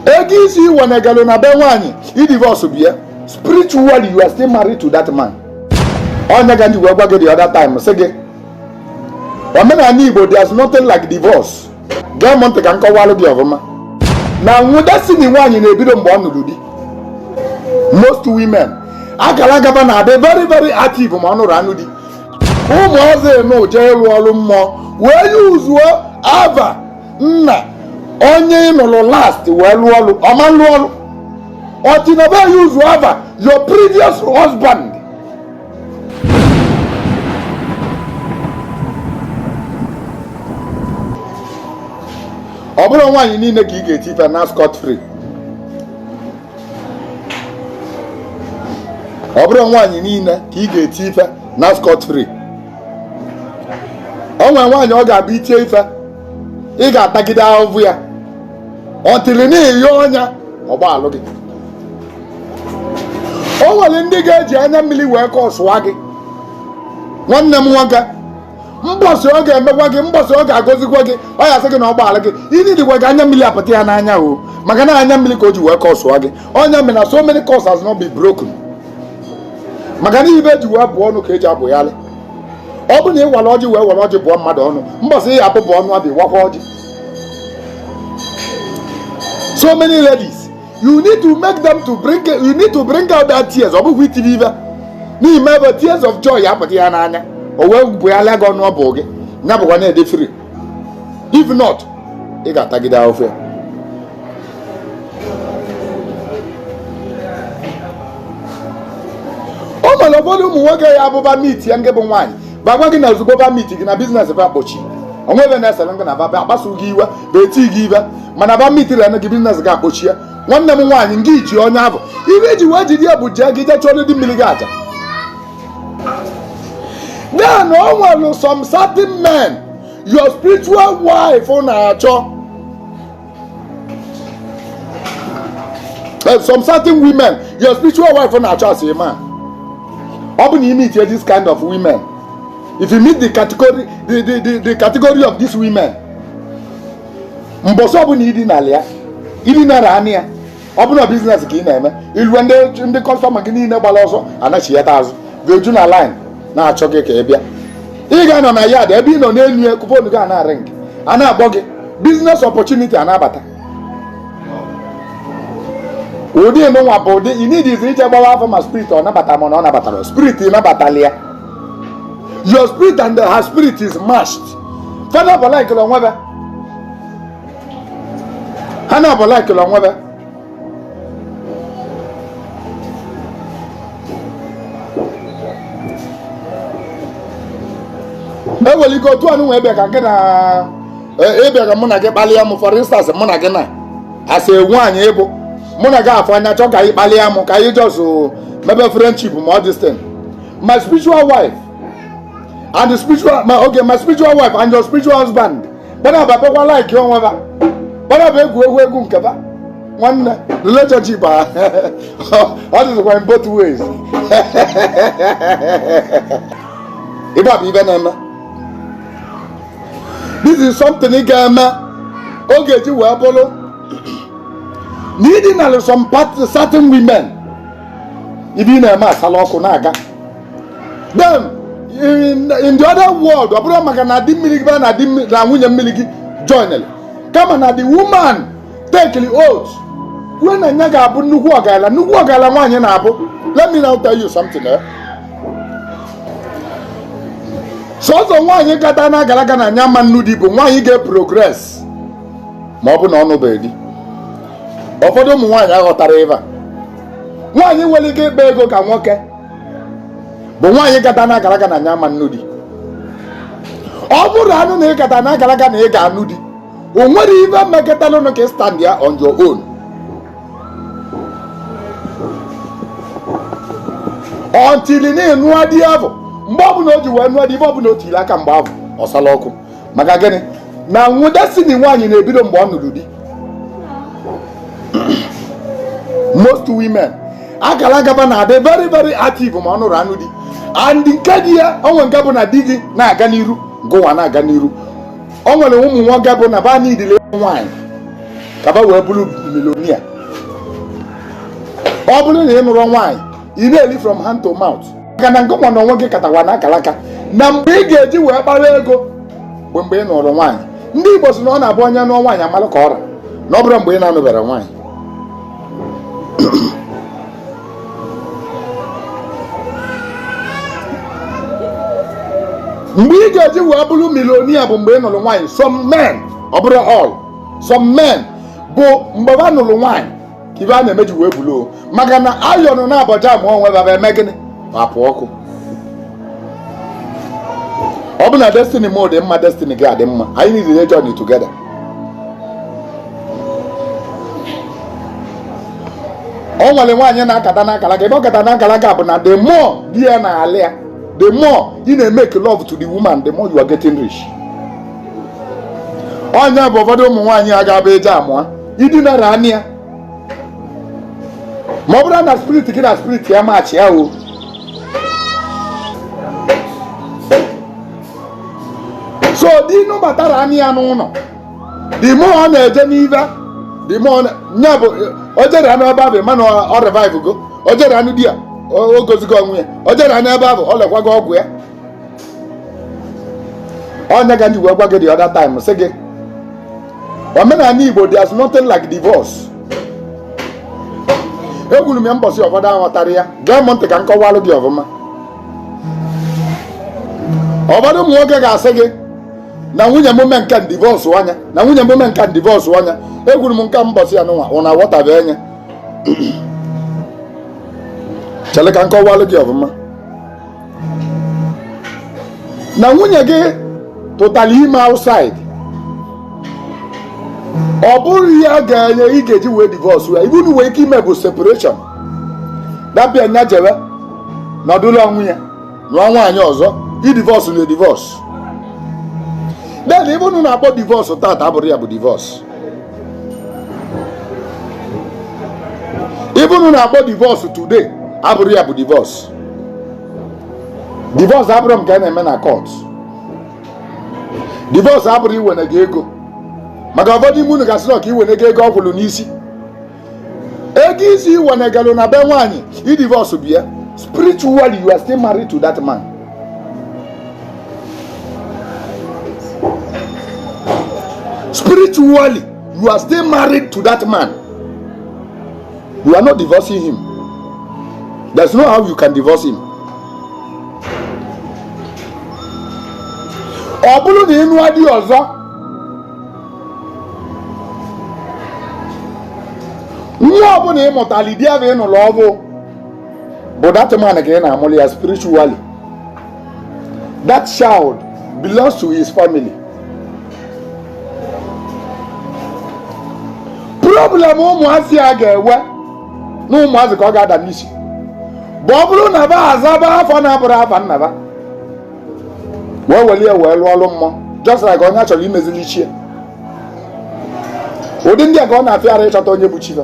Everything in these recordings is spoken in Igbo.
ego isi i wenagalọ na be nwaanyị ị divorce bịa spiritually you are still married to that man ọ nya ka m ji wee gwa gị the other time sị gị omenanị igbo there's nothing like divorce gee m ntị ka m kọwalụ gị ọfụma na nwụda si na nwaanyị na-ebido mgbe ọ nụrụ di most women akara aka ba na-adị very very active ma ọ nụrụ anụ di ụmụazị nụ jee ịrụ ọrụ mmụọ wee use ava nna onye ị nụrụ last wee lụọ ọlụ ọ ma-alụ ọlụ until na ba use ava your previous husband ọ bụrọ nwaanyị niile ka ị ga-eti ife naa scot free ọ bụrọ nwaanyị niile ka ị ga-eti ife naa scot free o nwere nwaanyị ọ ga-abụ i tie ife ị ga-atagide ahụhụ ya until na onye ya gbaalụ gị o nwere ndị ga-eji anya mmiri wee curse-ụa gị nwanne m nwoke mbọsị ọ ga-emekwa gị mbọsị ọ ga-agọzikwa gị ọ ya-asị gị na ọ gbaala gị ị needikwa ka anya mmiri apụta ya n'anya o maka na anya mmiri ka o ji wee curse-ụa gị ọ nya mere na so many curse has not been broken maka na ive e ji wee bụọ ọnụ ka e ji abụgharị ọ bụ na ị wara ọjị wee were ọjị bụọ mmadụ ọnụ mbọsị a ya-abụpụ ọnụ a bịa wakwa ọjị so many ladies you need to make them to bring you need to bring out that tears ọ bụghị iti ya ive na i mee ive tears of joy apụta ya n'anya o wee bụgharịa gị ọnụ ọ bụ gị ya bụkwa na ị dị free if not ị ga-atagide ahụhụ ya o nwere ụfọdụ ụmụ nwoke ya-abụ ba meet gị nke bụ nwaanyị ba gwa gị na ozugbo ba meet gị na business ba akpọchi o nwe ive na-esere gị na ba akpasu gị iwe ba eti gị ive mana ba meet rene gị business ba akpọchie nwanne m nwaanyị nke i ji onye avụ ive i ji wee jide ya bụ jee gị jee chụọ ndị mmiri gị aja then o nwere some certain men your spiritual wife na-achọ eh, some certain women your spiritual wife na-achọ as a man ọ bụ na ị meet this kind of women if you meet the category the the the, the category of these women mbọsị ọ bụna ị dinara ya ị dinara anị ya ọ bụrụ na business ka ị na-eme ilue ndị customer gị niile gbara ọsọ anachighata azụ ga-eju na line na-achọ gị ka ị bịa ị ga-anọ na yard ebe ị nọ n'elu ya ka phone gị a na-ring a na-akpọ gị business opportunity a na-abata ụdị nwa bụ ụdị ị needizi ije gbawa afa ma spirit ọ nabata ma na ọ nabatarọ spirit nabatala ya your spirit and her spirit is matched father for like o nwe ha na-abụ likeụlụ onwe ha e nwere ike otu anụ nwee bịa ka nke na ị bịa ka mụ na gị kpalịa m for instance mụ na gị na-asị nwaanyị ị bụ mụ na gị afụ anya chọọ ka anyị kpalịa m ka anyị just mebe friendship ma ọ this thing my spiritual wife and the spiritual my okay my spiritual wife and your spiritual husband ba na-aba bekwa like onwe ba ba na-aba egwu egwu egwu nke ba nwanne relationship a ọ dịzikwa in both ways ibe a bụ ibe na-eme this is something ị ga-eme ọ ga-eji wee bụrụ na i dinaa some part- certain women ibe ị na-eme asala ọkụ na-aga then in, in the other world ọ bụrụ maka na di mmiri gị baa na di mmiri- na nwunye mmiri gị joinere kama na the woman takeli oath kwue na nya ga-abụ nnukwu ọgaranya nnukwu ọgaranya nwaanyị na-abụ let me now tell you something eh? sọsọ nwaanyị kata na akaraka na nya ama-anụ di bụ nwaanyị ga-progress ma ọ bụ na ọ nụbeghị di ụfọdụ ụmụ nwaanyị aghọtara ibe a nwaanyị nwere ike ịkpa ego ka nwoke bụ nwaanyị kata na akaraka na nya ama-anụ di ọ bụrụ anụ na ị kata na akaraka na ị ga-anụ di o nwere ibe i mekatalụnụ ka ị standịa on your own until na ị nụa di abụ mgbe ọbụla o ji wee nụọ di ibe ọbụla o tiri aka mgbe abụ ọ sala ọkụ maka gịnị na nwụde si na nwaanyị na-ebido mgbe ọ nụrụ di most women akaraka ba na-adị very very active ma ọ nụrụ anụ di and nke di ya o nwe nke bụ na di gị na-aga n'iru gụwa na-aga n'iru o nwere ụmụ nwoke bụ na ba n'idile nwaanyị ka ba wee bụrụ millionaire ọ bụrụ na ị nụrọ nwaanyị ị na-eli from hand to mouth maka na ngụnwa na onwe gị katawa na akalaka na mgbe ị ga-eji wee kpara ego bụ mgbe ị nụrụ nwaanyị ndị Igbo si na ọ na-abụ onye nụọ nwaanyị a malụ ka ọ ra na ọ bụrọ mgbe ị na-anụberọ nwaanyị mgbe ị ga-eji wee bụrụ millionaire bụ mgbe ị nụrụ nwaanyị some men ọ bụrọ all some men bụ mgbe ha nụrụ nwaanyị ibe a na-emeji wee bulu maka na ayọnụ na abọja ma onwe baba eme gịnị apụ ọkụ ọ bụ na destiny m dị mma destiny gị adị mma anyị niile na journey together o nwere nwaanyị na-akata n'akara aka ebe ọ kata n'akara aka bụ na the more di ya na-alị ya the more ị na-emake love to the woman the more you are getting rich ọ nya bụ ụfọdụ ụmụ nwaanyị a ga-abụ eje amụa i dinara anya ma ọ bụrụ na spirit gị na spirit ya matchịa o so di nụbatara anya n'ụlọ the more ọ na-eje n'ive the more nya bụ o jere anụ ebe ahụ man ọ revivego o jere anụ di ya o gozigo onwe ya o jere anụ ebe ahụ ọ lekwago ọgwụ ya ọ nya ka m ji wee gwa gị the other time sị gị omenala igbo there's nothing like divorce ekwuru m ya mbọsị ụfọdụ aghọtarọ ya gee m ntị ka m kọwalụ gị ọfụma ụfọdụ ụmụ nwoke ga-asị gị na nwunye m mee nke divorce anya na nwunye m mee nke divorce anya ekwuru m nke mbọsị a nụwa unu awọtabe anya chere ka m kọwalụ gị ọfụma na nwunye gị tụtara ime outside ọ bụrọ ya ga-eme ị ga-eji wee divorce ya ibe ị nwere ike ime bụ separation that bụ nya jebe nọdụlụ onwe ya nụọ nwaanyị ọzọ ị divorce na edivorce then ibe unu na-akpọ divorce tata abụrọ ya bụ divorce ibe unu na-akpọ divorce today abụrọ ya bụ divorce divorce abụrọ nke a na-eme na court divorce abụrọ iwenega ego maka ụfọdụ ime unu ga-asị na ọ ka ewenega ego ọ kwụrụ n'isi ego isi i wenegalụ na be nwaanyị ị divorcebe ya spiritually you are still married to that man spiritually you are still married to that man You are not divorcing him. There's no how you can divorce him. Ọ bụrụ na ị nụọ di ọzọ nwa ọbụla ị mụtara di ahụ ị nụrụ ọhụụ bụ that man ka ị na-amụrụ ya spiritually that child belongs to his family problem ụmụazị a ga-enwe na ụmụazị ka ọ ga-ada n'isi bụ ọ bụrụ na ba azaba afa na-abụrọ afa nna ba wee welị ya wee lụọ ọrụ mmụọ just like onye a chọrọ imezili chi ya ụdị ndị a ka ọ na-afịara ịchọta onye bụ chi fa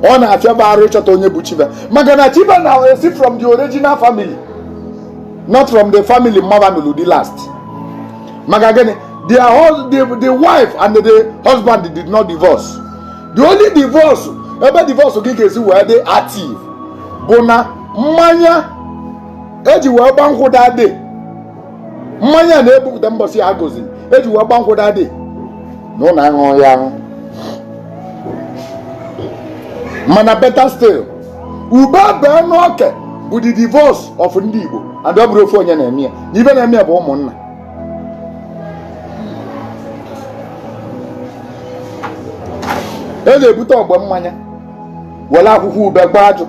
ọ na-afịa va arụ ịchọta onye bụ chi va maka na chi va na-esi from the original family not from the family mma va nụrụ di last maka gịnị their hus the, the wife and the husband did not divorce the only divorce ebe divorce gị ga-esi wee dị active bụ na mmanya eji wee gba nkwụ daa mmanya na-ebupụta mbọsị a goziri eji wee gba nkwụ dadị na ụlọ aṅụ ya aṅụ mana better still ube bee n'oke bụ the divorce of ndị Igbo and ọ bụrọ ofu onye na-eme ya na ive na-eme ya bụ ụmụnna e na-ebute ogbe mmanya were akwụkwọ ube gbaa ajụ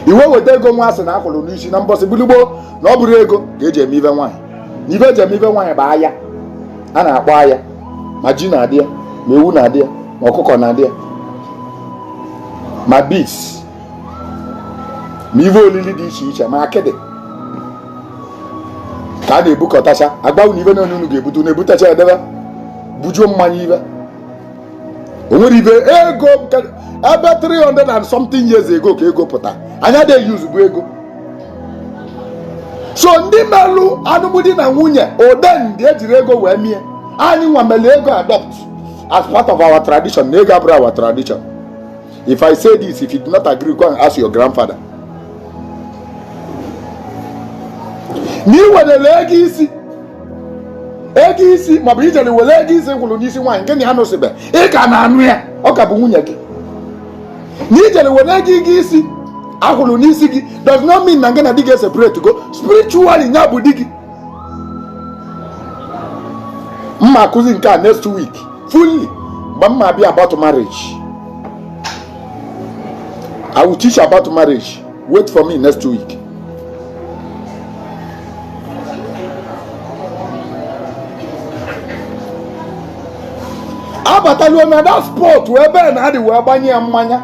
i wee weta ego nwa asị na akwụrụ n'isi na mbọsị gbuligbo na ọ bụrọ ego ka eji eme ive nwaanyị na ive eji eme ive nwaanyị bụ aya a na-akpọ aya ma ji na-adị ya ma ewu na-adị ya ma ọkụkọ na-adị ya ma beans ma ive olili dị iche iche ma akịdị ka a na-ebukọtacha agbanwe na ive na unu ga-ebute na-ebutacha edebe bujuo mmanya ive o nwere ive ego ebe 300 and something years ago ka ego pụta anyị adị e-use bu ego so ndị melụ anụmdi na nwunye ode ndị ejiri ego wee mie anyị nwa mere ego adopt as part of our tradition na ego abụrọ our tradition if i say this if you do not agree go and ask your grandfather na ị were ego isi ego isi maọbụ ị jere were ego isi kwụrụ n'isi nwaanyị ngị na ya nụsịbe ị ka na-anụ ya ọ ka bụ nwunye gị na ị jere were ego ego isi akwụrụ n'isi gị does not mean na ngị na di gị separate go spiritually nya bụ di gị mma akụzi nke a next week fully mgbe mma abịa about marriage I will teach you about marriage wait for me next week abataluo na that spot wee bee na adị wee gbanye ya mmanya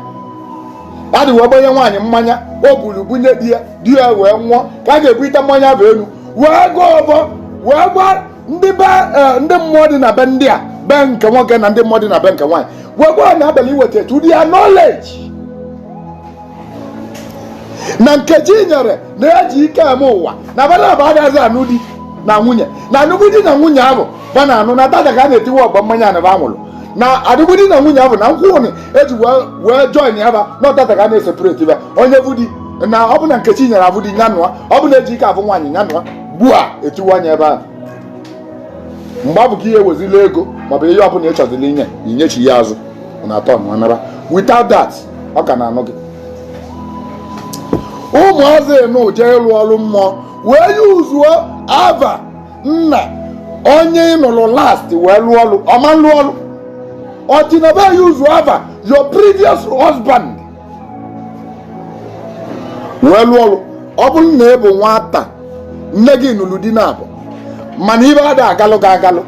adị wee gbanye nwaanyị mmanya o buru bunye di ya di ya wee ṅụọ ka a ga-ebulite mmanya avụ elu wee gọọ ọvọ wee gwa ndị be eh, ndị mmụọ dị na be ndị a be nke nwoke na ndị mmụọ dị na be nke nwaanyị wee gwa anyị abalị iweta to their knowledge na nkechinyere na ejikemeụwa na ba naabọ agaghịzi anụ di na nwunye na alụmdi na nwunye ahụ ba na-anụ na taata ka a na-etiwe ọba mmanya na ba ṅụrụ na alụmdi na nwunye ahụ na nkwụ enu eji wee join ya ba na ọ taata ka a na-eseparate ba onye bụ di na ọ bụ na nkechinyere abụ di nyanụa ọ bụ na ejike abụ nwaanyị nyanụa gbuo a etiwe anya ebe ahụ mgbe ahụ ka ihe wezila ego maọbụ ihe ọbụla ị chọziri inye inyechi ya azụ na atọ nwa nara without that ọ ka na-anụ gị ụmụazị unu jee ịrụ ọrụ mmụọ wee useuo ava nna onye ị nụrụ last wee lụọ ọrụ ọ ma lụọ ọrụ until aba useuo ava your previous husband wee lụọ ọrụ ọ bụrụ na ị bụ nwata nne gị nụrụ di naabọ mana ive ada agalụ gị agalụ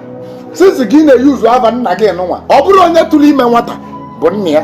since gị na-euse ava nna gị nụnwa ọ bụrọ onye tụrụ ime nwata bụ nna ya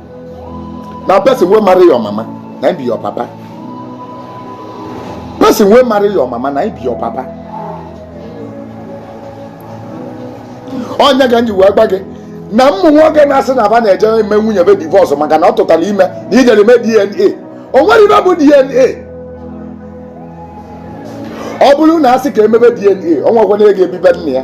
na person wey marry your mama na im be your papa person wey marry your mama na im be your papa ọ nya ka m ji wee gwa gị na ụmụ nwoke na-asị na aba na-eje eme nwunye be divorce maka na ọ tụtara ime na i jere ime dna o nwerọ ive bụ dna ọ bụrụ na asị ka emebe dna onye kwanụ ga-ebi be nna ya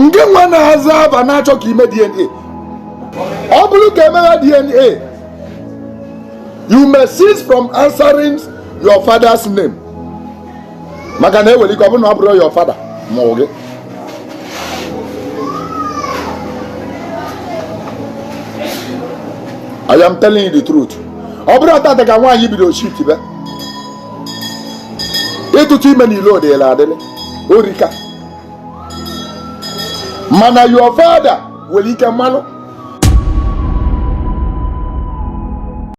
ngị nwa na-aza ava na-achọ ka ime DNA ọ bụrụ ka emegha DNA you may cease from answering your father's name maka na e nwere ike ọ bụrụ na ọ bụrọ your father mụ gị I am telling you the truth ọ bụrọ taata ka nwaanyị bido cheat be ịtụtụ ime n'ilo ọ dịla adịlị o rika mana your father nwere ike amarọ